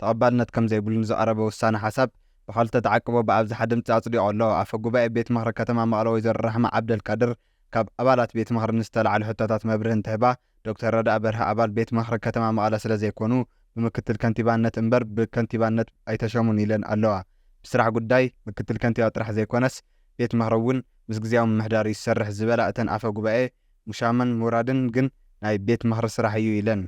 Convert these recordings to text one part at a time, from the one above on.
ተቐባልነት ከም ዘይብሉ ንዝቐረበ ውሳነ ሓሳብ ብኸልተ ተዓቅቦ ብኣብዝሓ ድምጺ ኣጽዲቖ ኣሎ። ኣፈ ጉባኤ ቤት ምኽሪ ከተማ መቐለ ወይዘሮ ራሕማ ዓብደልቃድር ካብ ኣባላት ቤት ምኽሪ ንዝተላዕሉ ሕቶታት መብርሂ እንትህባ ዶክተር ረዳኢ በርሀ ኣባል ቤት ምኽሪ ከተማ መቐለ ስለዘይኮኑ ብምክትል ከንቲባነት እምበር ብከንቲባነት ኣይተሸሙን ኢለን ኣለዋ። ብስራሕ ጉዳይ ምክትል ከንቲባ ጥራሕ ዘይኮነስ ቤት ምኽሪ እውን ምስ ግዝያዊ ምምሕዳር እዩ ዝሰርሕ ዝበላ እተን ኣፈ ጉባኤ ሙሻመን ሙራድን ግን ናይ ቤት ምኽሪ ስራሕ እዩ ኢለን።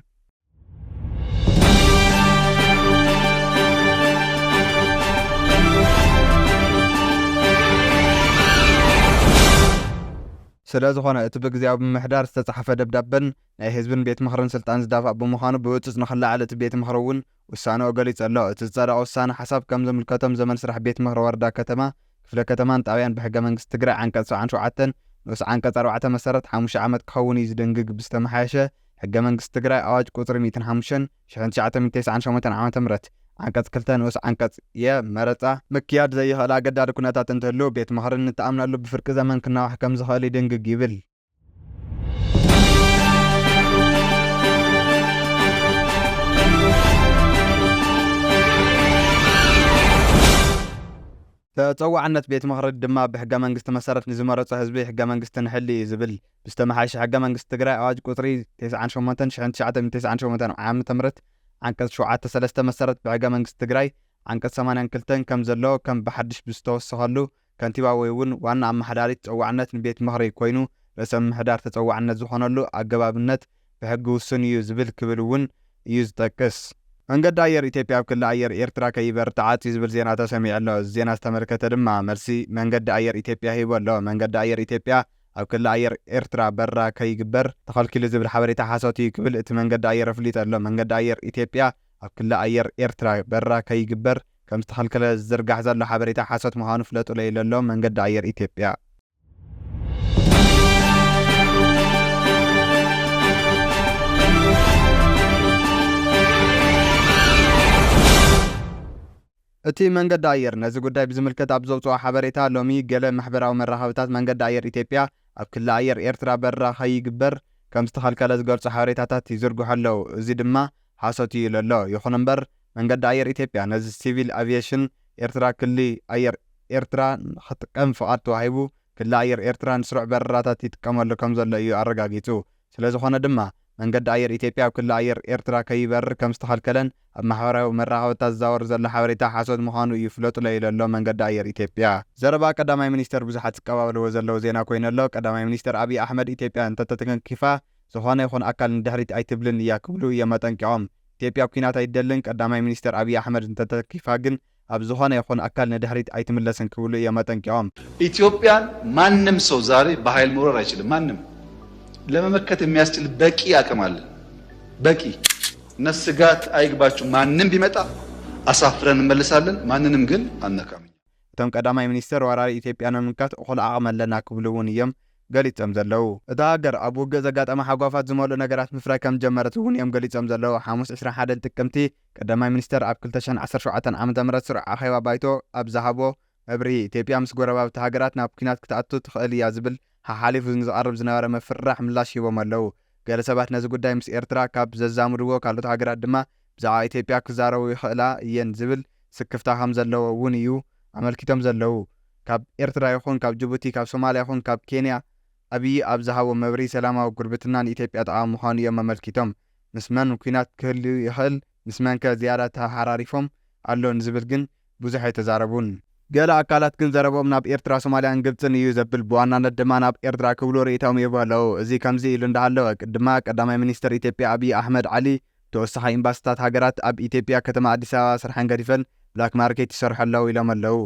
ስለዝኾነ እቲ ብግዝያዊ ምምሕዳር ዝተጻሕፈ ደብዳበን ናይ ህዝብን ቤት ምኽርን ስልጣን ዝዳፋእ ብምዃኑ ብህጹጽ ንኽለዓል እቲ ቤት ምኽሪ እውን ውሳንኦ ገሊጹ ኣሎ። እቲ ዝጸደቐ ውሳነ ሓሳብ ከም ዝምልከቶም ዘመን ስራሕ ቤት ምኽሪ ወረዳ፣ ከተማ፣ ክፍለ ከተማን ጣብያን ብሕገ መንግስቲ ትግራይ ዓንቀጽ ሰብዓን ሸውዓተን ንኡስ ዓንቀጽ ኣርባዕተ መሰረት ሓሙሽተ ዓመት ክኸውን እዩ ዝድንግግ ብዝተመሓየሸ ሕገ መንግስቲ ትግራይ ኣዋጅ ቁፅሪ ሚእትን ሓሙሽተን፣ ሽሕን ትሽዓተ ሚእትን ተስዓን ሸሞንተን ዓመተ ምህረት ዓንቀፅ ክልተ ንኡስ ዓንቀፅ የ፣ መረፃ፣ ምክያድ ዘየኽእል ኣገዳዲ ኩነታት እንትህሉ ቤት ምኽሪ ንተኣምነሉ ብፍርቂ ዘመን ክናዋሕ ከምዝኽእል ይድንግግ ይብል። ተፀዋዕነት ቤት ምኽሪ ድማ ብሕገ መንግስቲ መሰረት ንዝመረፆ ህዝቢ ሕገ መንግስቲ ንሕሊ እዩ ዝብል። ብዝተመሓየሸ ሕገ መንግስቲ ትግራይ ኣዋጅ ቁፅሪ ቴስዓን ሸሞንተን ሽሕን ትሽዓተ ሚእትን ቴስዓን ሸሞንተን ዓመተ ምህረት ዓንቀፅ ሸውዓተ ሰለስተ መሰረት ብሕገ መንግስቲ ትግራይ ዓንቀፅ ሰማንያን ክልተን ከም ዘሎ ከም ብሓድሽ ብዝተወሰኸሉ ከንቲባ ወይ እውን ዋና ኣመሓዳሪ ተፀዋዕነት ንቤት ምኽሪ ኮይኑ ርእሰ ምምሕዳር ተፀዋዕነት ዝኾነሉ ኣገባብነት ብሕጊ ውሱን እዩ ዝብል ክብል እውን እዩ ዝጠቅስ። መንገዲ ኣየር ኢትዮጵያ ኣብ ክሊ ኣየር ኤርትራ ከይበርር ተዓጽዩ ዝብል ዜና ተሰሚዑ ኣሎ። እዚ ዜና ዝተመልከተ ድማ መልሲ መንገዲ ኣየር ኢትዮጵያ ሂቡ ኣሎ። መንገዲ ኣየር ኢትዮጵያ ኣብ ክሊ ኣየር ኤርትራ በረራ ከይግበር ተኸልኪሉ ዝብል ሓበሬታ ሓሶት እዩ ክብል እቲ መንገዲ ኣየር ኣፍሊጡ ኣሎ። መንገዲ ኣየር ኢትዮጵያ ኣብ ክሊ ኣየር ኤርትራ በረራ ከይግበር ከምዝተኸልከለ ዝዝርጋሕ ዘሎ ሓበሬታ ሓሶት ምዃኑ ፍለጡለይ ኢሉ ኣሎ መንገዲ ኣየር ኢትዮጵያ። እቲ መንገዲ ኣየር ነዚ ጉዳይ ብዝምልከት ኣብ ዘውጽኦ ሓበሬታ፣ ሎሚ ገለ ማሕበራዊ መራኸብታት መንገዲ ኣየር ኢትዮጵያ ኣብ ክሊ ኣየር ኤርትራ በረራ ከይግበር ከምዝተኸልከለ ዝገልጹ ሓበሬታታት ይዝርግሑ ኣለዉ። እዚ ድማ ሓሶት'ዩ ኢሉ'ሎ። ይኹን'ምበር መንገዲ ኣየር ኢትዮጵያ ነዚ ሲቪል ኣቪየሽን ኤርትራ ክሊ ኣየር ኤርትራ ንኽጥቀም ፍቓድ ተዋሂቡ ክሊ ኣየር ኤርትራ ንስሩዕ በረራታት ይጥቀመሉ ከምዘሎ እዩ ኣረጋጊጹ። ስለዝኾነ ድማ መንገዲ ኣየር ኢትዮጵያ ኣብ ክሊ ኣየር ኤርትራ ከይበርር ከምዝተኸልከለን ኣብ ማሕበራዊ መራኸብታት ዝዛወር ዘሎ ሓበሬታ ሓሶት ምዃኑ እዩ ፍለጡለይ ኢሎ'ሎ መንገዲ ኣየር ኢትዮጵያ። ዘረባ ቀዳማይ ሚኒስተር ብዙሓት ዝቀባበልዎ ዘለዉ ዜና ኮይኑ'ሎ። ቀዳማይ ሚኒስተር ኣብዪ ኣሕመድ ኢትዮጵያ እንተተተንኪፋ ዝኾነ ይኹን ኣካል ንድሕሪት ኣይትብልን እያ ክብሉ እዮም ኣጠንቂቖም። ኢትዮጵያ ኲናት ኣይትደልን፣ ቀዳማይ ሚኒስተር ኣብዪ ኣሕመድ እንተተተንኪፋ ግን ኣብ ዝኾነ ይኹን ኣካል ንድሕሪት ኣይትምለስን ክብሉ እዮም ኣጠንቂቖም። ኢትዮጵያን ማንም ሰው ዛሬ በሀይል መውረር አይችልም ማንም ለመመከት የሚያስችል በቂ አቅም አለን በቂ እና ስጋት አይግባችሁ ማንም ቢመጣ አሳፍረን እንመልሳለን ማንንም ግን አንነካም እኛ። እቶም ቀዳማይ ሚኒስትር ወራሪ ኢትዮጵያ ንምምካት እኹል ዓቕሚ ኣለና ክብሉ እውን እዮም ገሊፆም ዘለዉ። እታ ሃገር ኣብ ውግእ ዘጋጠማ ሃጓፋት ዝመልኡ ነገራት ምፍራይ ከምዝጀመረት እውን እዮም ገሊፆም ዘለዉ። ሓሙስ ዕስራን ሓደን ጥቅምቲ፣ ቀዳማይ ሚኒስተር ኣብ ክልተ ሽሕን ዓሰርተ ሸውዓተን ዓመተ ምህረት ስሩዕ ኣኼባ ባይቶ ኣብ ዝሃቦ መብርሂ፣ ኢትዮጵያ ምስ ጎረባብቲ ሃገራት ናብ ኲናት ክትኣቱ ትኽእል እያ ዝብል ሓሓሊፉ ንዝቐርብ ዝነበረ ምፍርራሕ ምላሽ ሂቦም ኣለዉ። ገለ ሰባት ነዚ ጉዳይ ምስ ኤርትራ ካብ ዘዛምድዎ ካልኦት ሃገራት ድማ ብዛዕባ ኢትዮጵያ ክዛረቡ ይኽእላ እየን ዝብል ስክፍታ ከም ዘለዎ እውን እዩ ኣመልኪቶም ዘለዉ። ካብ ኤርትራ ይኹን ካብ ጅቡቲ፣ ካብ ሶማልያ ይኹን ካብ ኬንያ ኣብዪ ኣብ ዝሃቦ መብርሂ ሰላማዊ ጉርብትና ንኢትዮጵያ ጠቓሚ ምዃኑ እዮም ኣመልኪቶም። ምስ መን ኲናት ክህሉ ይኽእል ምስ መንከ ዝያዳ ተሓራሪፎም ኣሎ ንዝብል ግን ብዙሕ ኣይተዛረቡን። ገለ ኣካላት ግን ዘረብኦም ናብ ኤርትራ ሶማልያን ግብጽን እዩ ዘብል ብዋናነት ድማ ናብ ኤርትራ ክብሉ ርእይታኦም ይህቡ ኣለው። እዚ ከምዚ ኢሉ እንዳሃለወ ቅድማ ቀዳማይ ሚኒስተር ኢትዮጵያ ኣብይ ኣሕመድ ዓሊ ተወሳኺ ኢምባስታት ሃገራት ኣብ ኢትዮጵያ ከተማ ኣዲስ ኣበባ ስርሐን ገዲፈን ብላክ ማርኬት ይሰርሑ ኣለው ኢሎም ኣለው።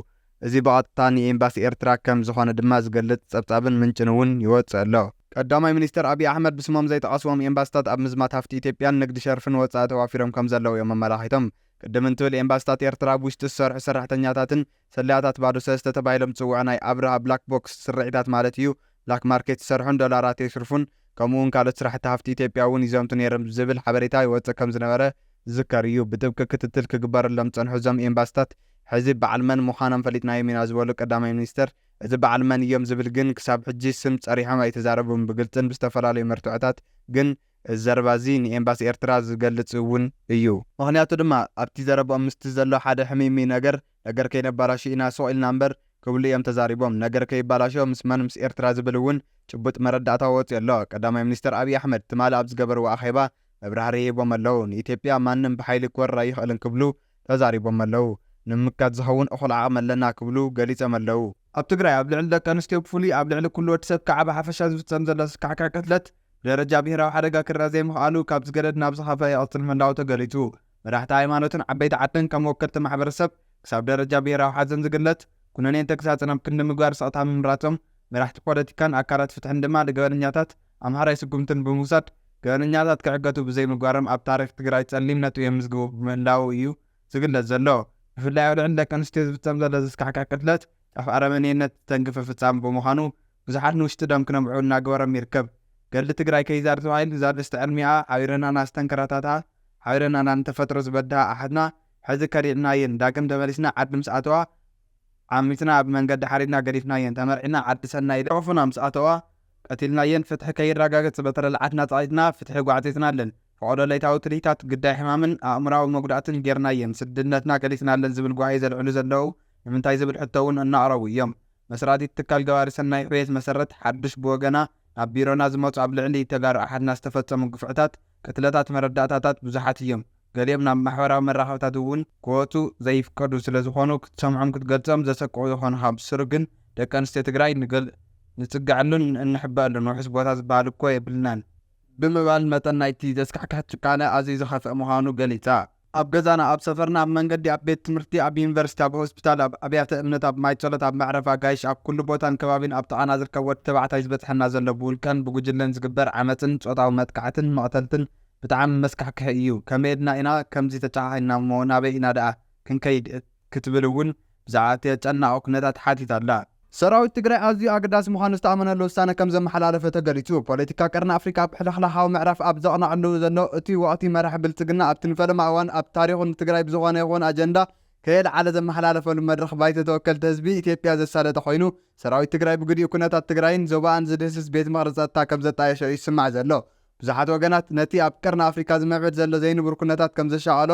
እዚ ብቐጥታ ንኤምባሲ ኤርትራ ከም ዝኾነ ድማ ዝገልጽ ጸብጻብን ምንጭን እውን ይወጽእ ኣሎ። ቀዳማይ ሚኒስተር ኣቢይ ኣሕመድ ብስሞም ዘይጠቐስዎም ኤምባሲታት ኣብ ምዝማት ሃፍቲ ኢትዮጵያን ንግዲ ሸርፍን ወጻኢ ተዋፊሮም ከም ዘለዉ እዮም ኣመላኺቶም። ቅድም እንትብል ኤምባሲታት ኤርትራ ኣብ ውሽጢ ዝሰርሑ ሰራሕተኛታትን ሰላያታት ባዶ ሰለስተ ተባሂሎም ዝጽውዑ ናይ ኣብርሃ ብላክ ቦክስ ስርዒታት ማለት እዩ ብላክ ማርኬት ይሰርሑን ዶላራት የሽርፉን ከምኡ እውን ካልኦት ስራሕቲ ሃፍቲ ኢትዮጵያ እውን ይዘምቱ ነይርም ዝብል ሓበሬታ ይወጽእ ከም ዝነበረ ዝዝከር እዩ። ብጥብቂ ክትትል ክግበረሎም ዝጸንሑ እዞም ኤምባሲታት ሕዚ በዓል መን ምዃኖም ፈሊጥናዮም ኢና ዝበሉ ቀዳማይ ሚኒስትር፣ እዚ በዓል መን እዮም ዝብል ግን ክሳብ ሕጂ ስም ፀሪሖም ኣይተዛረቡን፣ ብግልፅን ብዝተፈላለዩ መርትዖታት ግን እዚ ዘረባ እዚ ንኤምባሲ ኤርትራ ዝገልፅ እውን እዩ። ምኽንያቱ ድማ ኣብቲ ዘረብኦም ምስቲ ዘሎ ሓደ ሕምይምይ ነገር፣ ነገር ከይነባላሹ ኢና ሱቕ ኢልና እምበር ክብሉ እዮም ተዛሪቦም። ነገር ከይባላሾ ምስ መን ምስ ኤርትራ ዝብል እውን ጭቡጥ መረዳእታ ወፂኡ ኣሎ። ቀዳማይ ሚኒስትር ኣብይ ኣሕመድ ትማሊ ኣብ ዝገበርዎ ኣኼባ መብራህርሂ ሂቦም ኣለዉ፣ ንኢትዮጵያ ማንም ብሓይሊ ክወርር ኣይኽእልን ክብሉ ተዛሪቦመ'ለዉ። ንምምካት ዝኸውን እኹል ዓቕሚ ኣለና ክብሉ ገሊጾም'ለዉ። ኣብ ትግራይ ኣብ ልዕሊ ደቂ ኣንስትዮ ብፍሉይ ኣብ ልዕሊ ኩሉ ወዲ ሰብ ከኣ ብሓፈሻ ዝፍጸም ዘሎ ዘስካሕክሕ ቅትለት ብደረጃ ብሄራዊ ሓደጋ ክርኣ ዘይምኽኣሉ ካብ ዝገደድ ናብ ዝኸፍኣ ይቕጽል ምህላዉ ተገሊጹ። መራሕቲ ሃይማኖትን ዓበይቲ ዓድን ከም ወከልቲ ማሕበረሰብ ክሳብ ደረጃ ብሄራዊ ሓዘን ዝግለጽ ኩነኔን ተግሳጽን ኣብ ክንዲ ምግባር ስቕታ ምምራጾም መራሕቲ ፖለቲካን ኣካላት ፍትሕን ድማ ንገበነኛታት ኣምሓራይ ስጉምትን ብምውሳድ ገበነኛታት ክዕገቱ ብዘይምግባሮም ኣብ ታሪኽ ትግራይ ፀሊም ነጥቢ የምዝግቡ ብምህላዉ እዩ ዝግለፅ ዘሎ። ብፍላይ ኣብ ልዕሊ ደቂ ኣንስትዮ ዝፍፀም ዘሎ ዘስካሕክሕ ቅትለት ጫፍ ኣረመኔነት ዝተንክፈ ፍፃም ብምዃኑ ብዙሓት ንውሽጢ ደም ክነብዑ እናገበሮም ይርከብ። ገድሊ ትግራይ ከይዛር ተባሂሉ ዛርእስቲ ዕርሚኣ ሓቢረናና ዝተንከራታትኣ ሓቢረናና ንተፈጥሮ ዝበድሃ ኣሓትና ሕዚ ከዲዕናየን ዳግም ተመሊስና ዓዲ ምስ ኣተዋ ዓሚፅና ኣብ መንገዲ ሓሪድና ገዲፍናየን ተመርዒና ዓዲ ሰናይ ልሑፉና ምስ ኣተዋ ቀቲልናየን ፍትሒ ከይራጋገጽ በተረላዓት ናጻኢትና ፍትሒ ጓዕጺጽናለን ፈቐዶ ለይታዊ ትልሂታት ግዳይ ሕማምን ኣእምሮኣዊ መጉዳእትን ጌርናየን ስድነትና ገሊጽናለን ዝብል ጓሂ ዘልዕሉ ዘለዉ ንምንታይ ዝብል ሕቶ እውን እናቕረቡ እዮም መስራቲት ትካል ገባሪ ሰናይ ሕውየት መሰረት ሓዱሽ ብወገና ናብ ቢሮና ዝመጹ ኣብ ልዕሊ ተጋሩ ኣሓትና ዝተፈጸሙ ግፍዕታት ቅትለታት መረዳእታታት ብዙሓት እዮም ገሊኦም ናብ ማሕበራዊ መራኸብታት እውን ክወጹ ዘይፍቀዱ ስለዝኾኑ ክትሰምዖም ክትገልጾም ዘሰቅቑ ይኾኑኻ ብስሩ ግን ደቂ ኣንስትዮ ትግራይ ንጽገዐሉን እንሕበኣሉን ውሑስ ቦታ ዝበሃል እኮ የብልናን ብምባል መጠን ናይቲ ዘስካሕክሕ ጭካነ ኣዝዩ ዝኸፍኣ ምዃኑ ገሊጻ። ኣብ ገዛና ኣብ ሰፈርና ኣብ መንገዲ ኣብ ቤት ትምህርቲ ኣብ ዩኒቨርሲቲ ኣብ ሆስፒታል ኣብ ኣብያተ እምነት ኣብ ማይ ጸሎት ኣብ መዕረፊ ኣጋይሽ ኣብ ኩሉ ቦታን ከባቢን ኣብ ጥቓና ዝርከብ ወዲ ተባዕታይ ዝበጽሐና ዘሎ ብውልቀን ብጉጅለን ዝግበር ዓመጽን ጾታዊ መጥቃዕትን መቕተልትን ብጣዕሚ መስካሕክሒ እዩ ከመየድና ኢና ከምዚ ተጨኻኺንና እሞ ናበይ ኢና ደኣ ክንከይድ ክትብል እውን ብዛዕባ እቲ ኣጨናቒ ኩነታት ሓቲታ ኣላ። ሰራዊት ትግራይ ኣዝዩ ኣገዳሲ ምዃኑ ዝተኣመነሉ ውሳነ ከም ዘመሓላለፈ ተገሊፁ። ፖለቲካ ቀርኒ ኣፍሪካ ኣብ ሕልኽላኻዊ ምዕራፍ ኣብ ዘቕነዐሉ ዘሎ እቲ ወቕቲ መራሒ ብልፅግና ኣብቲ ንፈለማ እዋን ኣብ ታሪኹ ንትግራይ ብዝኾነ ይኹን ኣጀንዳ ከየልዓለ ዘመሓላለፈሉ መድረኽ ባይቶ ተወከልቲ ህዝቢ ኢትዮጵያ ዘሳለጠ ኮይኑ ሰራዊት ትግራይ ብግዲኡ ኩነታት ትግራይን ዞባኣን ዝድህስስ ቤት ምኽሪ ፀጥታ ከም ዘጣየሾ እዩ ዝስማዕ ዘሎ። ብዙሓት ወገናት ነቲ ኣብ ቀርኒ ኣፍሪካ ዝምዕብል ዘሎ ዘይንቡር ኩነታት ከምዘሻቐሎ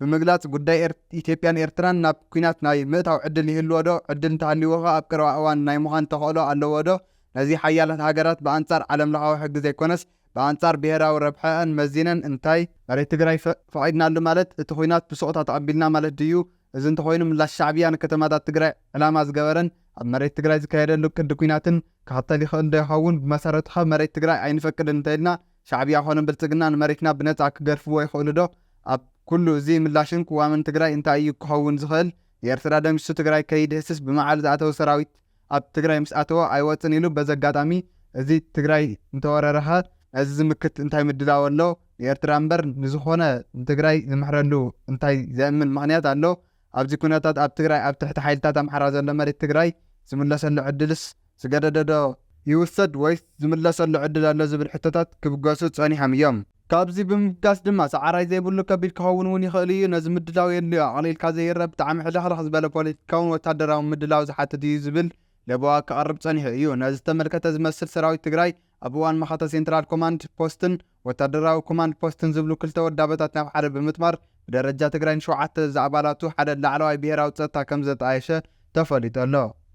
ብምግላፅ ጉዳይ ኢትዮጵያን ኤርትራን ናብ ኲናት ናይ ምእታው ዕድል ይህልዎ ዶ? ዕድል እንተሃልይዎ ኸ ኣብ ቀረባ እዋን ናይ ምዃን ተኽእሎ ኣለዎ ዶ? ነዚ ሓያላት ሃገራት ብኣንፃር ዓለምለኻዊ ሕጊ ዘይኮነስ ብኣንፃር ብሄራዊ ረብሐኣን መዚነን እንታይ መሬት ትግራይ ፈቒድናሉ ማለት እቲ ዂናት ብሱቕታ ተቐቢልና ማለት ድዩ? እዚ እንተኾይኑ ምላሽ ሻዕብያ ንከተማታት ትግራይ ዕላማ ዝገበረን ኣብ መሬት ትግራይ ዝካየደሉ ቅዲ ኲናትን ክኸተል ይኽእል ዶ ይኸውን? ብመሰረቱኸ መሬት ትግራይ ኣይንፈቅድን እንተኢልና ሻዕብያ ኮነ ብልፅግና ንመሬትና ብነፃ ክገድፍዎ ይኽእሉ ዶ? ኣብ ኩሉ እዚ ምላሽን ቅዋምን ትግራይ እንታይ እዩ ክኸውን ዝኽእል? ንኤርትራ ደምሲሱ ትግራይ ከይድህስስ ብመዓል ዝኣተወ ሰራዊት ኣብ ትግራይ ምስ ኣተወ ኣይወፅን ኢሉ በዚ ኣጋጣሚ እዚ ትግራይ እንተወረረ ከ ነዚ ዝምክት እንታይ ምድላው ኣሎ ንኤርትራ እምበር ንዝኾነ ንትግራይ ዝምሕረሉ እንታይ ዘእምን ምኽንያት ኣሎ ኣብዚ ኩነታት ኣብ ትግራይ ኣብ ትሕቲ ሓይልታት ኣምሓራ ዘሎ መሬት ትግራይ ዝምለሰሉ ዕድልስ ዝገደደ ዶ ይውሰድ ወይስ ዝምለሰሉ ዕድል ኣሎ ዝብል ሕቶታት ክብገሱ ፀኒሖም እዮም። ካብዚ ብምብጋስ ድማ ሰዓራይ ዘይብሉ ከቢድ ክኸውን እውን ይኽእል እዩ። ነዚ ምድላው የድልዮ። ኣቕሊልካ ዘይረእ ብጣዕሚ ሕልኽልኽ ዝበለ ፖለቲካውን ወታደራውን ምድላው ዝሓትት እዩ ዝብል ለበዋ ክቐርብ ፀኒሑ እዩ። ነዚ ዝተመልከተ ዝመስል ሰራዊት ትግራይ ኣብ እዋን መኸተ ሴንትራል ኮማንድ ፖስትን ወታደራዊ ኮማንድ ፖስትን ዝብሉ ክልተ ወዳበታት ናብ ሓደ ብምጥማር ብደረጃ ትግራይ ንሸውዓተ ዝኣባላቱ ሓደ ላዕለዋይ ብሄራዊ ፀጥታ ከምዘጣየሸ ተፈሊጡ ኣሎ።